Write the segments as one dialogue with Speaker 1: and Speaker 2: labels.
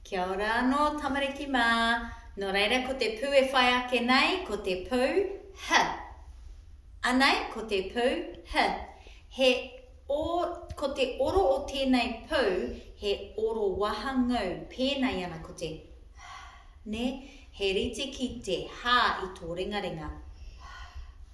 Speaker 1: Kia ora anō tamariki mā. Nō reira ko te pū e whai ake nei ko te pū h. Anei ko te pū h. He o, ko te oro o tēnei pū he oro wahangū, pēnā i ana ko te h, nē, he rite ki te h i tō ringaringa.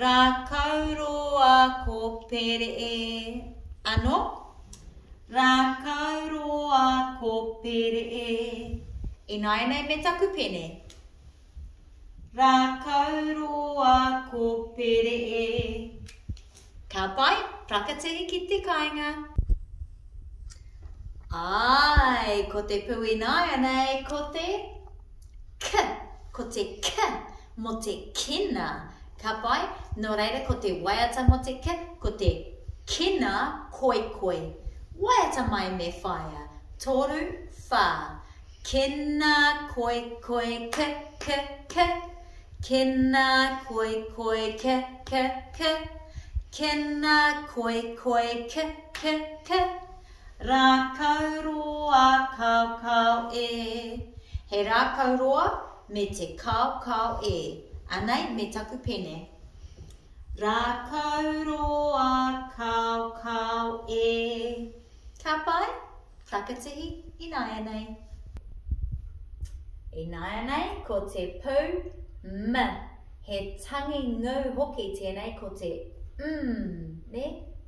Speaker 1: Rākau roa ko Peree ano Rākau roa ko Peree Ināianei me taku pene Rākau roa ko Peree Ka pai, whakatiri ki te kainga Āe, ko te pou ināianei ko te K, ko te K mo te kina, ka pai, no reira ko te waiata mo te kina, ko te kina koikoi. Waiata mai me whaia, toru, wha, kina koikoi ki, ki, ki, kina koikoi ki, ki, ki, kina koikoi ki, ki, ki. Rākau roa kaokao e He rākau roa me te kaokao e Anei me taku pene Rākau roa kaokao e Ka pai? Whakatihi ināianei Ināianei ko te pou M He tangi ngū hoki tēnei ko te mm, nē?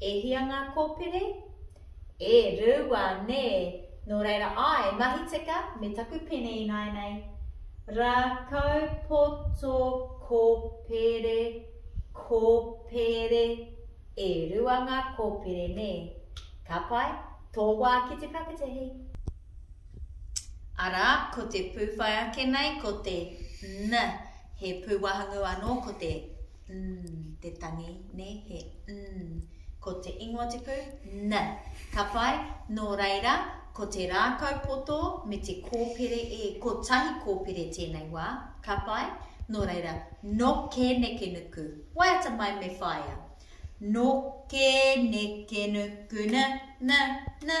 Speaker 1: E hia ngā kōpere? E rua nē, nō reira āe, mahi tika me taku pene ināianei. Rākau poto kōpere, kōpere, e rua ngā kōpere nē? Ka pai, tō wā ki te whakatahi. Arā, ko te pū whai ake nei ko te n, he pūwahangu anō ko te. mm, te tangi, ne, he mm. Ko te ingoa te pū, n. Ka pai, nō reira, ko te rākau poto me te kōpere e, ko tahi kōpere tēnei wā, ka pai, nō reira, no ke neke nuku, waiata mai me whaia. No ke neke nuku, na, na, na.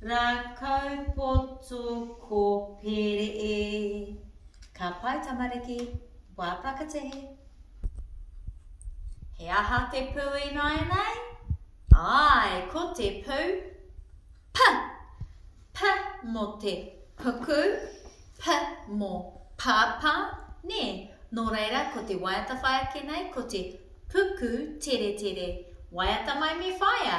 Speaker 1: Rākau poto ko Pere e. Ka pai tamariki, wā whakatehe. He aha te pū ināianei? Āe, ko te pū, p, p mō te puku, p mō pāpā, nē, nō reira ko te waiata whai ake nei ko te puku teretere, waiata mai me whaia.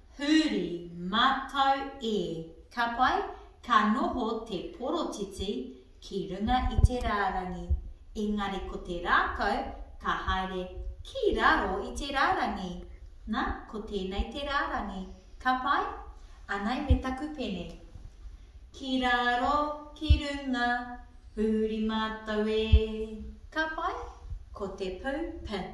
Speaker 1: Huri, Matau e, ka pai, ka noho te porotiti ki runga i te rārangi, engari ko te rākau ka haere ki raro i te rārangi. Na, ko tēnei te rārangi, ka pai? Anei me taku pene. Ki raro, ki runga, huri matau e, ka pai? Ko te pou, pin.